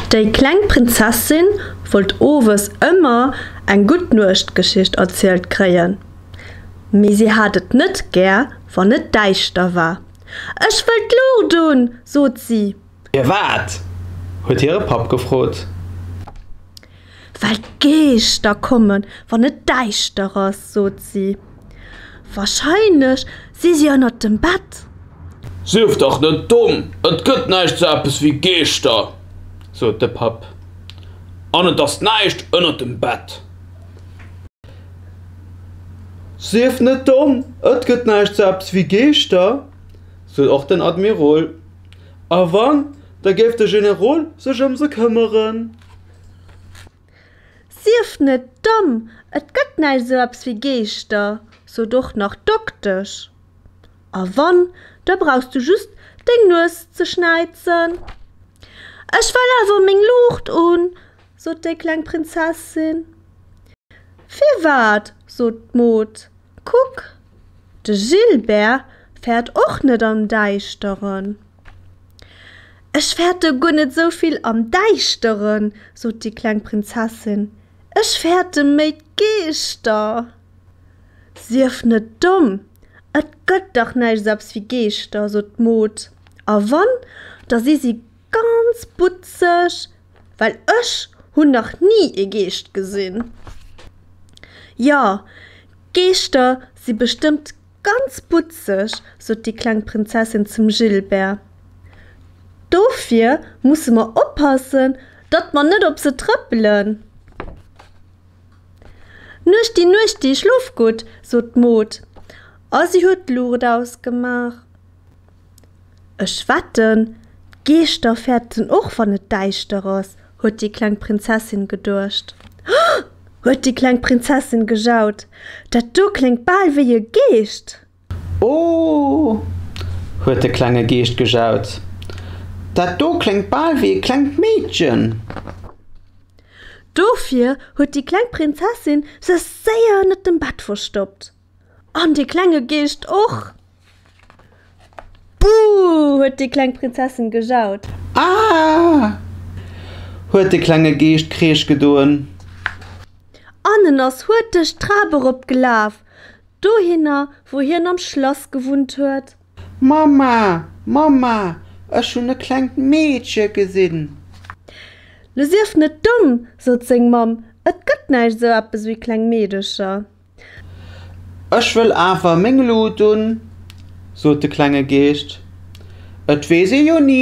Déi kleng Prinzessin wollt owes ëmmer eng Guttnuechtgeschicht erzielt kréien, mee si hat et net gär, wann et däischter war. Ech wëll d'Luucht un! sot si. Firwat? huet hire Papp gefrot. Well d'Geeschter kommen, wann et däischter ass, sot si. Warscheinlech si si ënnert dem Bett. Sief dach net domm, et gëtt näischt sou eppes wéi Geeschter, sot de Papp. An et ass näischt ënnert dem Bett. Sief net domm, et gëtt näischt sou eppes wéi Geeschter, sot och den Admirol. A wann, da géif de Generol sech ëm se këmmeren. Sief net domm, et gëtt näischt esou eppes wéi Geeschter, sot och nach d'Doktesch. A wann, da brauchs du just deng Nues ze schnäizen. Ech well awer meng Luucht un, sot déi kleng Prinzessin. Firwat, sot d'Mod, kuck, de Gilbert fäert och net am Däischteren. Ech fäerte guer net esou vill am Däischteren, sot déi kleng Prinzessin, ech fäerte méi d'Geeschter. Sief net domm, et gëtt dach näischt esou eppes wéi Geeschter, sot d'Mod, a wann, da si si ganz butzeg, well ech hunn nach ni ee Geescht gesinn. Jo, Geeschter si bestëmmt Ganz butzeg, sot déi kleng Prinzessin zum Gilbert. Dofir musse mer oppassen, datt mer net op se trëppelen. Nuechti, nuechti, schlof gutt, sot d'Mod a si huet d'Luucht ausgemaach. Ech wetten, d'Geeschter fäerten och, wann et däischter ass, huet déi kleng Prinzessin geduecht. Hoo! huet déi kleng Prinzessin gejaut. Dat do kléngt bal wéi e Geescht! Ooh! huet de klenge Geescht gejaut. Dat do kléngt bal wéi e klengt Meedchen! Dofir huet déi kleng Prinzessin sech séier ënnert dem Bett verstoppt. An dee klenge Geescht och! Buh! huet déi kleng Prinzessin gejaut. Aah! huet de klenge Geescht Kreesch gedoen. An en ass hurteg d'Trap erop gelaf, dohinner, wou hien am Schlass gewunnt huet. Mamma, Mamma, ech hunn e klengt Meedche gesinn! Lo sief net domm! sot seng Mamm, et gëtt näischt esou eppes wéi kleng Meedecher. Ech wëll awer meng Lut un, sot de klenge Geescht, et weess ee jo ni.